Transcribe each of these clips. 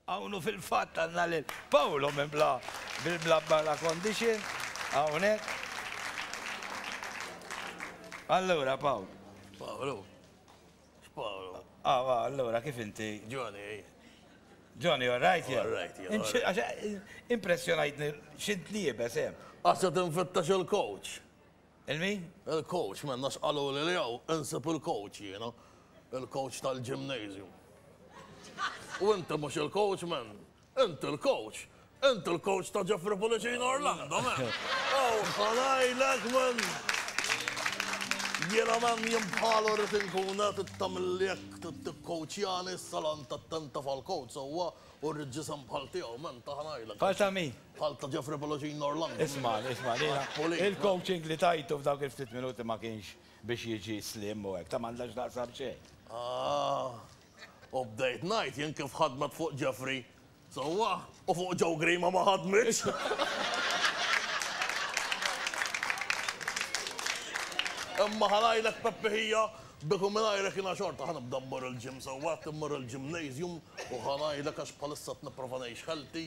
Hawn u fil-fatt għandna lil Paolo minn bla bil-bla bala condition hawnhekk. Allura Paul. Paolo. Paolo. Ah, ah, allura kif inti? Johnny. Johnny, all right, yeah. All right, yeah. Impressjonajtni xint liebes, eh? Għasa tinfittax il-coach. Il-min? Il-coach, m'hemm għax qaluli li hawn insib il-coach jiena. Il-coach tal-gymnasium. U inti mhux il-coach, m'hemm. Inti l-coach. Inti l-coach ta' Jeffrey Pullicino Orlando, m'hemm. Aw, ħa ngħidlek, m'hemm. Jiena, m'hemm, jien bħalu rrid inkun, eh, trid tagħmilli hekk, trid tikkoachjani, s-salant attent taf għall-coach sewwa u rrid ġisem bħal tiegħu, m'hemm, ta' ħa ngħidlek. Bħal ta' min? Bħal ta' Geoffrey Bologin Norlando. Ismagħni, ismagħni, jiena il-coaching li tajtu f'dawk il-ftit minuti ma kienx biex jiġi slim u hekk, ta' m'għandha x'taqsam xejn. Ah, u bdejt ngħid jien kif ħadmet fuq Geoffrey sewwa u fuq Joe Grima ma ħadmitx! Imma ħa ngħidlek Peppi ħija, bik u mingħajrek jiena xorta ħa nibda mmur il-gym sewwa, qed immur il-gymnasium u ħa ngħidlek għax bħalissa qed nipprova ngħix healthy,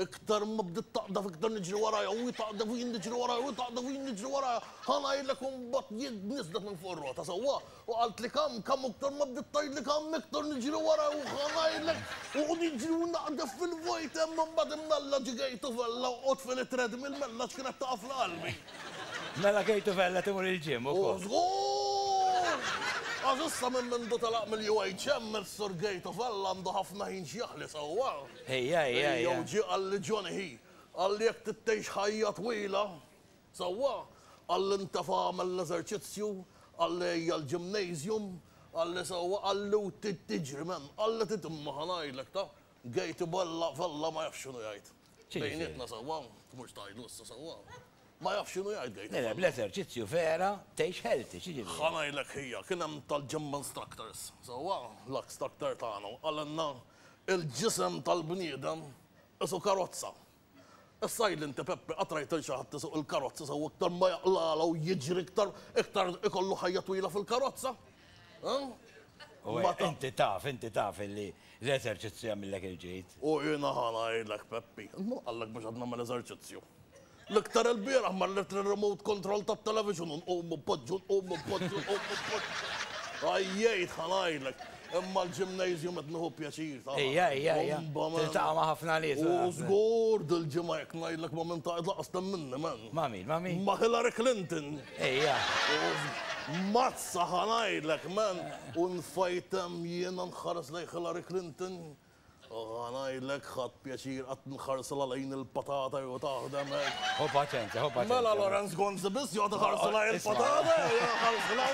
Iktar ma bdiet taqdef iktar niġri warajha u hi taqdef u jien niġri warajha u hi taqdef u jien niġri warajha. Ħa ngħidlek u mbagħad jien niżlet minn fuq ir-rota, sewwa? U qaltli kemm, kemm u iktar ma bdiet tgħidli kemm iktar niġri warajha u ħa ngħidlek u niġri u naqdef fil-vojt hemm u mbagħad imnalla ġie Gejtuvella u qgħodt fil treadmill mela għax kienet taqafla qalbi. Mela Gejtuvella timur il-gym ukoll? U żgur! Għax issa minn mindu telaq mill-UHM is-Sur Gejtuvella għandu ħafna ħin x'jaħli, sewwa? Ejja, ejja, ejja. Jew ġie qalli John Hi. Qalli jekk trid tgħix ħajja twila, sewwa, qalli ntefa' agħmel l-eżerċizzju, qalli ejja l-gymnasium, qalli sewwa, qalli u trid tiġri m'hemm, qalli trid imma ħa ngħidlek ta' Gate Bella Vella ma jafx x'inhu jgħid. Bejnietna sewwa, mhux tgħidlu issa sewwa. Ma jafx x'inhu jgħid Gate Bella. Le le, bl-eżerċizzju vera tgħix healthy, x'jiġifieri? Ħa ngħidlek Hija, kien hemm tal-gym instructors, sewwa, l-ax structor tagħna u qalilna Il-ġisem tal-bniedem qisu karozza. Issa għidli inti Peppi, qatt rajt lil xi ħadd isuq il-karozza sew iktar ma jaqlagħla u jiġri iktar, iktar ikollu ħajja twila fil-karozza? U hekk inti taf, inti taf illi l-eżerċizzju jagħmillek il-ġid. U jiena ħa ngħidlek Peppi, int min qallek biex għad nagħmel eżerċizzju? L-iktar ilbieraħ marret lir-remote control tat-television u nqumu poġġu, nqumu poġġu, nqumu poġġu. Għajjejt ħa ngħidlek. Imma l-gymnasium qed nieħu pjaċir tagħha. Ejja, ejja, ejja. Tiltaqa' ma' ħafna nies. U żgur dil-ġimgħa jekk ngħidlek ma' min taqgħed lanqas temminni, man. Ma' min, ma' min? Ma' Hillary Clinton. Ejja. Mazza ħa ngħidlek, man. U nfajt hemm jiena nħares lejn Hillary Clinton. U ħa ngħidlek, ħadt pjaċir qatt nħarsla lejn il-patata jew taħdem hekk. Ħu paċenzja, ħu paċenzja. Mela Lawrence Gonzi biss joqgħod iħarsla lejn il-patata, iħarsla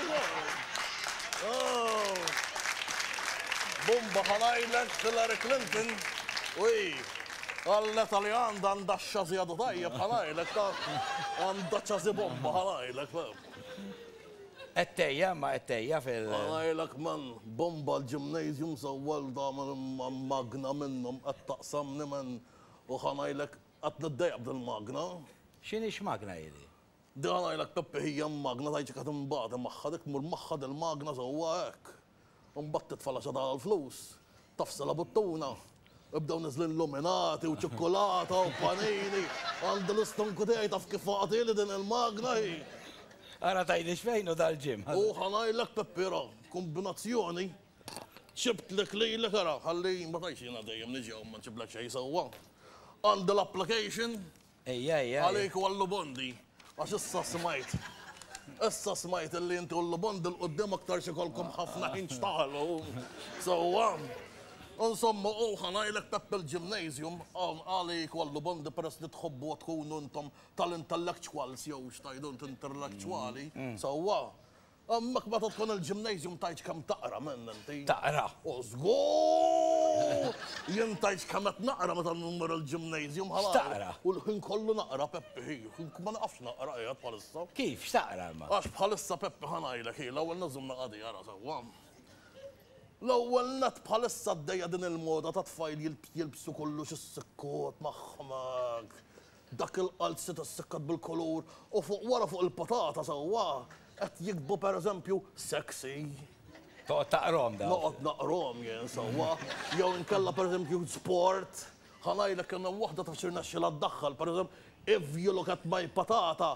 Bumba ħa ngħidlek Hillary Clinton u hi għall-leta li għandha għandha x-xażi għadu tajjeb ħa ngħidlek ta' għandha ċażi bomba ħa ngħidlek. Qed tgħejja, imma qed tgħejja fil. Ara ngħidlek man, bomba l-gymnasium sewwa li tagħmel magna minnhom qed taqsamni man u ħa ngħidlek qed niddejjaq b'dil magna. X'inhi x'magna hi di? Di ħa ngħidlek Peppi hija magna tgħid xi qed inbati magħha dik tmur magħha dil-magna sewwa hekk. U mbagħad titfa' l-għaxata tal-flus, tafsel għabuttuna, u jibdew niżlin luminati u ċukkulata u panini. Għandi l-istonku tiegħi taf kif faqatili din il-magna hi! Ara tgħidlix fejn hu dal-gym. U ħa ngħidlek Peppi ra, kombinazzjoni, ġibtlek lilek ara, ħalli ma tgħidx jiena dejjem niġi hawn ma nġiblek xejn sewwa. Għandi l-application Ejja, ejja, ejja. Għalik u għall-lubondi, għax issa smajt, issa smajt illi inti u l-lubondi 'l quddiem aktarx ikollkom ħafna ħin x'tagħlu sewwa. Insomma, u ħa ngħidlek Peppi l-Gymnasium, għalik u għall-lubondi peress li tħobbuha tkunu intom tal-intellectuals jew x'tgħidu int intellektwali, sewwa, Hemmhekk meta tkun il-gymnasium tgħidx kemm taqra, m'hemm hemm tgħid. Taqra. O żgur! Jien tgħidx kemm qed naqra meta mmur il-gymnasium ħa naqra. X'taqra? U l-ħin kollu naqra Peppi hi, ma naqafx naqra qiegħed bħalissa. Kif, x'taqra imma? Għax bħalissa Peppi ħa ngħidlek hi, l-ewwel nett żomm naqgħad hi ara sewwa. L-ewwel nett bħalissa għaddejja din il-moda tat-tfajl jilbsu kollox is-sikkot magħhom hekk. Dak il-qalzi tas-sekkat bil-kulur u fuq wara fuq il-patata sewwa qed jiktbu per eżempju sexy. Toqgħod taqrahom dawn. Noqgħod naqrahom jien sewwa. Jew inkella per eżempju sport. Ħa ngħidlek kemm hemm waħda ta' xi rnexxilha ddaħħal per eżempju, If you look at my patata.